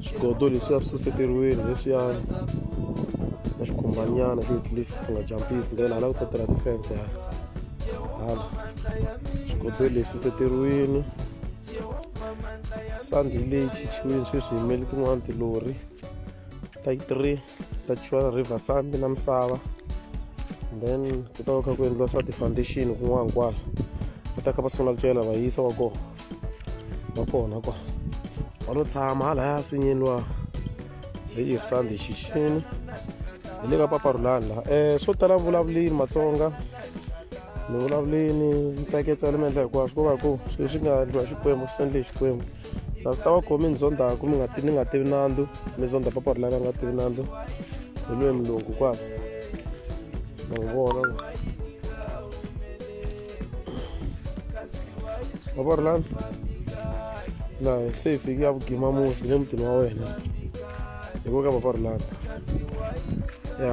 swigodo leswiya swi suseteriwile leswiyani na xikhumbanyana xo at least ku nga jampisi ndlela hala ku ta tirha defense hala hala swigodo leswi suseteriwini sandi leyi chichiwini sweswi yimele tin'wana tilori ta three ta chiwa river sandi na misava then ku ta va kha ku endliwa swa ti-foundation kun'wana kwala va ta kha va sungula ku cela va yisa wa kona va kona kwa va lo tshama halaya nsinyeni wa se yi sandi xixini hi le ka paparulani laha um swo tala vulavulini matsonga ni vulavulini ntsaketsa ni mi endla hinkwaswo ko va ku swilo swi nga endliwa xikwembu swi endle hi xikwembu kasi ta va khomi ni zondaku mi nga ti ni nga tivi nandzu mi zonda paparulani a nga tivi nandzu hi lweyi mulungu kwala ma n'wi vona wa vona laha laha se hi fike ya vugima mufi le mutini wa wena hi ku ka papa rulana ya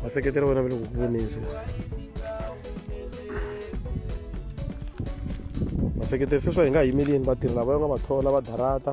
vaseketeri wena va le ku ku voneni sweswi vaseketeri sweswi hi nga yimelini vatirhi lava va nga va thola va darata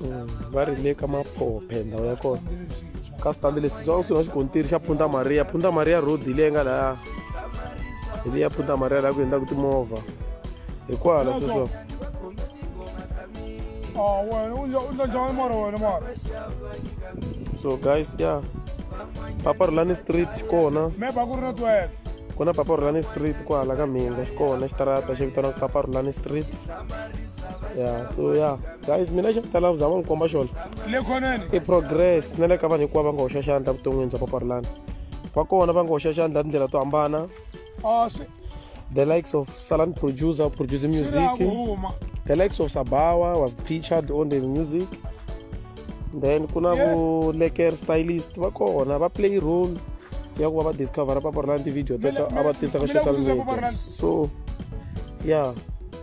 mm, va ri le ka maphophe ndhawu ya kona ka switandi leswi swa kusuhi na xikontiri xa punta maria punta maria road hi leyi nga laya hi leyi ya punta maria laha ku endlaku timovha hi kwala sweswo so guys ya yeah. papa rulani street xi kona ku na papa rulani street kwala ka mhinga xi kona xitarata xi vitaniwaka papa rulani street ya so ya guys mina xa tala ku zama n'wi komba xona i progress na le ka vanhu hinkwavo va nga hoxa xandla vuton'wini bya paparilana va kona va nga hoxa xandla tindlela to hambana ah, the likes of salan producer producer music the likes of sabawa was featured on the music then ku na vo leker stylist va kona va play role ya ku va va discovera paparilana ti-video teto a va tisa ka social media so ya yeah.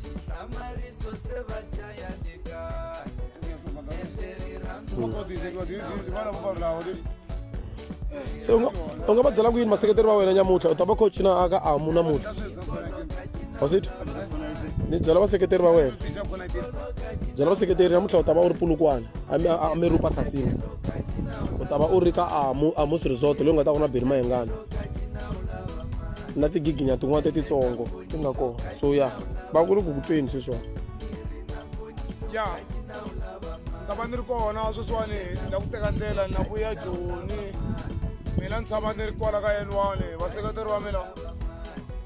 Xihlamarisa se va dlaya le kaya. Etleri ra se u nga- u nga va byela ku yini maseketeri va wena nyamutlha u ta va kha u cina aka amu namutlha wasitwa ni byela vaseketeri va wena byela vaseketeri namutlha u ta va u ri pulukwana a mi- a- a mi rupa khasini u ta va u ri ka amu amus resort leyi u nga ta ku na beni mayengana na tigiginya tin'wana tetitsongo ti nga kona so ya va ku ri ku ku tweni sweswiwani ya ni ta va ni ri kona sweswiwani ni la ku teka ndlela ni la ku ya joni mina ni tshama ni ri kwala ka yeniwani vaseketeri va mina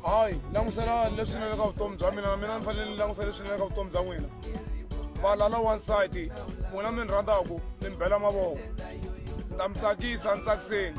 hayi languselani leswinene ka vutomi bya mina mina ni fanele ni langusa leswinene ka vutomi bya n'wina valala wansati n'wina mi ni rhandzaku mi ni bela mavoko ni ta mi tsakisa ni tsakiseni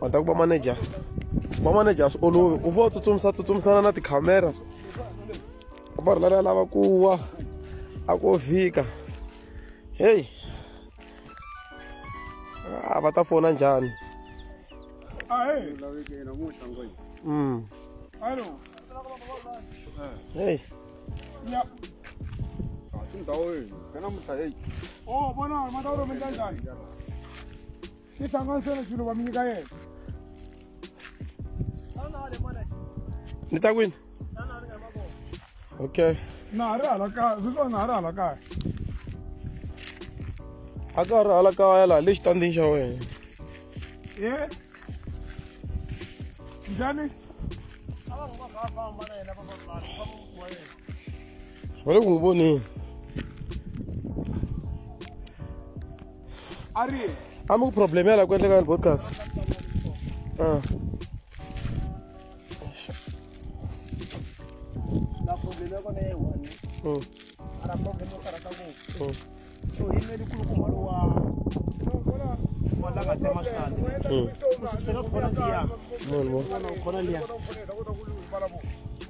mhata ku va manager va manager a swi olovi u vo tsutsumisa tsutsumisana na tikhamera va ri lala lava ku wa a ko vhika heyi a ah, va ta fona njhani mm. heyi ni ta kwini okay na ha ri hala kaya sweswiwani na ha ri hala kaya a ka ha ri hala kaya laha le xitandini xa wena e njhani va le ku n'wi voneni a ri a mi ku problem ya la ku endleka ni podcast ah. Mm.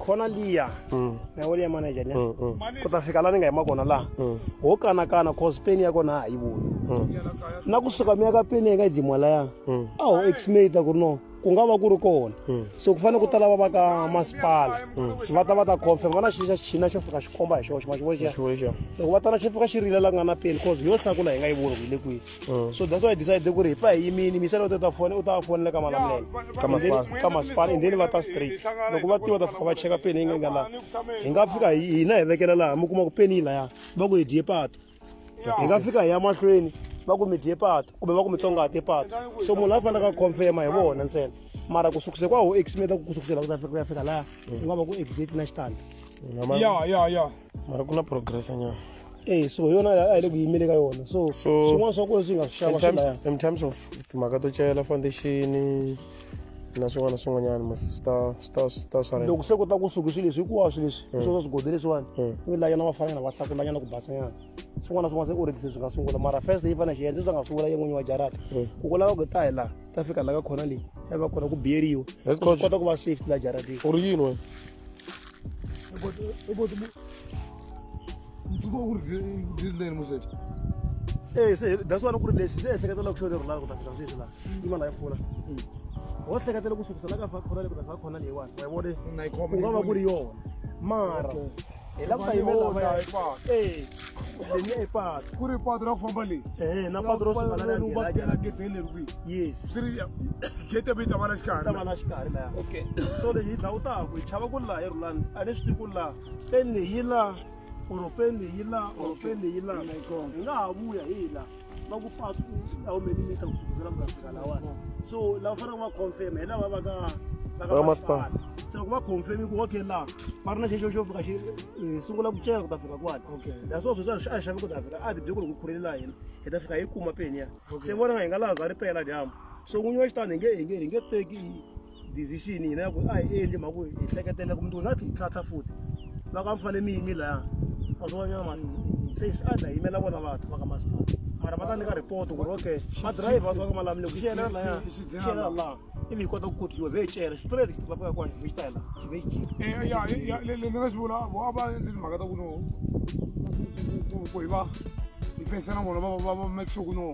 khona liya mm. na wo liya manager liya mm, mm. ku ta fika la ni nga yima kona laha ho kanakana cause peni ya kona ha yi voni na kusuka mi ya ka peni ya nga yi dzimwa laya a ho exmata ku ri no ku nga va ku ri kona hmm. so ku fanele ku ta lava va ka masipala hmm. va ta va ta confirm va na xixa xina xo fika xi komba hi xoxo maxivoxia loko va ta na xi fika xi rile la ku nga na peni cause yo hlakula hi nga yi voni ku yi le kwihi hmm. so that's why i decide ku ri hi pa hi yimini misele u ta ta fone u ta fonele ka malamulele ka masipala and then va ta straight loko va tiva ta fika va cheka peni yi nga nga laha hi nga fika hina hi vekela laha mi kuma ku peni yi laya va ku hi dye pato hi nga fika hi ya mahlweni va ku mi dye pato kumbe va ku mi tsongahate pato so munhu la fanelaka a confirma hi vona ntsena mara ku sukise kwa ho eximeta ku kusukisela ku ta fika ku ya fika laha ku nga va ku exact na xitandi ya ya ya mara ku na progress nyana Eh, so yona a hi le ku yimele ka yona so swin'wana swa kona swi nga swi xava in terms of timhaka to chayela foundation na swin'wana na swin'wanyana mos swi ta swi ta swi ta swa loko se kota ku suki swilo leswi hinkwaswo leswi mm. sweswo swigodi leswiwani mm. ku lanyana va fanela va hlakulanyana ku basanyana swin'wana na swin'wana se oredise swi nga sungula mara first yi fanele xi endle swi nga sungula ye n'winyi wa jarata mm. ku ku lava ku ta hi laha ta fika laha ka khona leyi ya va kona ku biyeriwa swi kota ku va safety laha jarateni u ri yini wena Eh, se that's why ku ri lexi se ehleketa loko xo leri laha ku ta fika sweswi laha yi va laha yi pfula ho hleketela ku sukisa la ka fa khona le ku ta fa khona leyiwani wa yi vona na yi khoma u nga va ku ri yona mara hi lava ku ta yimela lava ya patu eh leyi i patu ku ri patu ra ku famba leyi eh na patu ro sungula na ni va kela gate le ri yes swi ri gate bi ta va na xikarhi ta va na xikarhi la okay so leyi hi dlawu ta ku hi chava ku la hi rulani a ni swi tivi ku la peni leyi la or peni leyi la or peni leyi la hi nga ha vuya hi la va ku fa how many meter ku sukela ku fika lawani so lava faneleke va confirm hi lava va ka va ka masipala se loko va confirm ku okay laha va ri na xexo xo fika xi eh, sungula ku cela ku ta fika kwani ya swo sweswi a xavi ku ta fika a tibyeko loko khurheli laha hina hi ta fika hi kuma peni ya se vona nga hi nga laha za ri pela dyambu so n'winyi wa xitani hi nge hi nge hi nge teki decision hina ya ku a hi endli mhaka ku hi hleketela ku mntu na tlhi hi tlhatlha futhi va ka mi fanele mi yimi laya va swi vanyana mani se se a dla yimela vona vathu va ka masipala mara va ta nyika report ku ri okay madirayivha va ka malamile ku xiyela laya xiyela laha ivi hi kota ku kotisiwa ve hi cela straight xi va ka kona hi xi tela xi ve xi jika ni nga xi vula vo a va endli mhaka ta ku no ku hi va hi fayisana vona va make sure ku no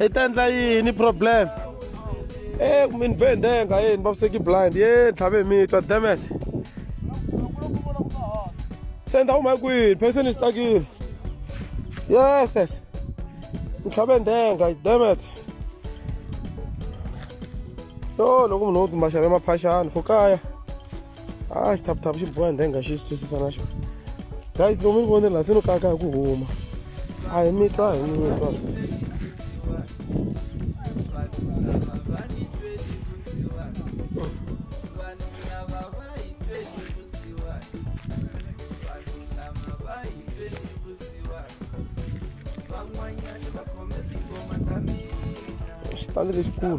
i ta endla yini problem e kumbe ni vhe ndenga e ni vaviseki blind ye tlhave mi twa demet se ni ta huma kwihi phese ni stakile yes yes ni tlhave ndenga demet yo loko munhu wo tumbaxave maphaxani fo kaya a ah, xi thaputhapu xi boha ndhenga xi xi twisisa na xona guys lomu mi vonela se no kaka hi ku huma a hi mi twa hi mi twa Tá no escuro.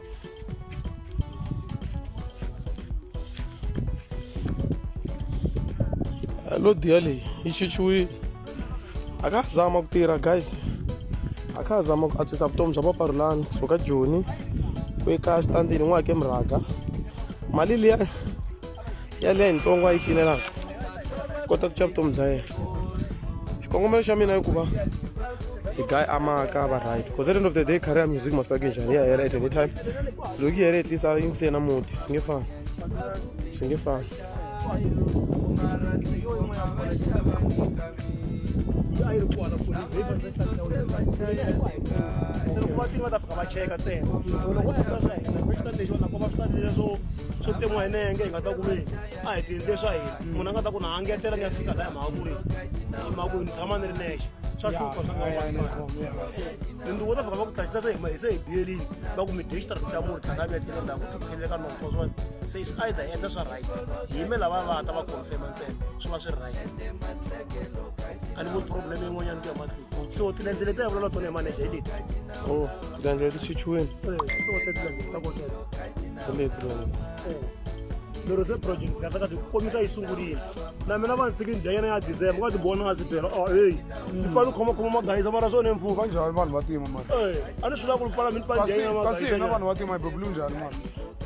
lo diya leyi yi xixuwile a ka ha zama ku tirha guys a kha ha zama ku antswisa vutomi bya paparulani kusuka joni ku eka xitandini n'wi hake murhaka mali liya yaleyo ntsongo a yi cinelaka kota ku ca vutomi bya yena xikongomelo xa mina i ku va the guy amaka va right because at the end of the day career music must ake njhani ya hela at any time so loko yi hele tlisa yi ntsena muti swi nge fani swi nge fani loyi a yi ri kona foni leyi va yi saseka leyi a yi ku a yi kona se loko va tini va ta fika va cheka ntsena so loko a yi ta swa hina va swi ta lexi va nakona va swi ta lexi swo swo tsemiwa hi nenge hi nga ta ku ve a hi tiendle swa hina munhu a nga ta ku na a ngetela ni ya fika laha mhaka ku ri hi mhaka ku ni tshama ni ri nexe swa hlupha swa ngawainduvo ta fika va ku tlakisa se hi se hi biyelini va ku mi dye xitarati xa murhi tlhakami ya tlhela ndhaku ku tikheleleka noko se is either endla swa right hi me lava va ta va confirma tsembe swi va swi ri right a ni voni problem yin'wanyana ku ya mahlweni so tilendze leti ya vulela tona hi manager hi leti o oh, tilendze leti chichiweni lero se project kahlaka ti komisa yi sungurile na mina va ntsiki ndya yena ya december nga ti vona nga swi byela o oh, eyi ni pfala ni khomakhoma magayisa mara swona emfumo va njhani vanhu va tima mani a ni swi lava ku ni pfala mi ni pfala ndya yena magayisa kasi hina vanhu va tima hi bebulu njhani mani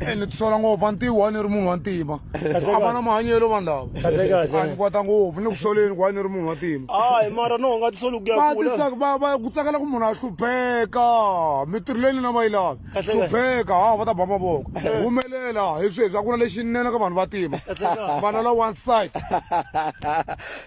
Eh, ni tisola ngopfu a ni tivi why ni ri munhu wa ntima a va na mahanyelo vanhu lava a ni kwata ngopfu ni le ku soleni ku why ni ri munhu wa ntima hayi mara no nga tisoli ku ya va kula titsaka- va- va- ku tsakela ku munhu a hlupheka mitirho leyi nina va yi lavi Kahle, kahle. hlupheka ha va ta ba mavoko humelela hi sweswi a ku na lexinene ka vanhu va tima Kahle, kahle. vana la one side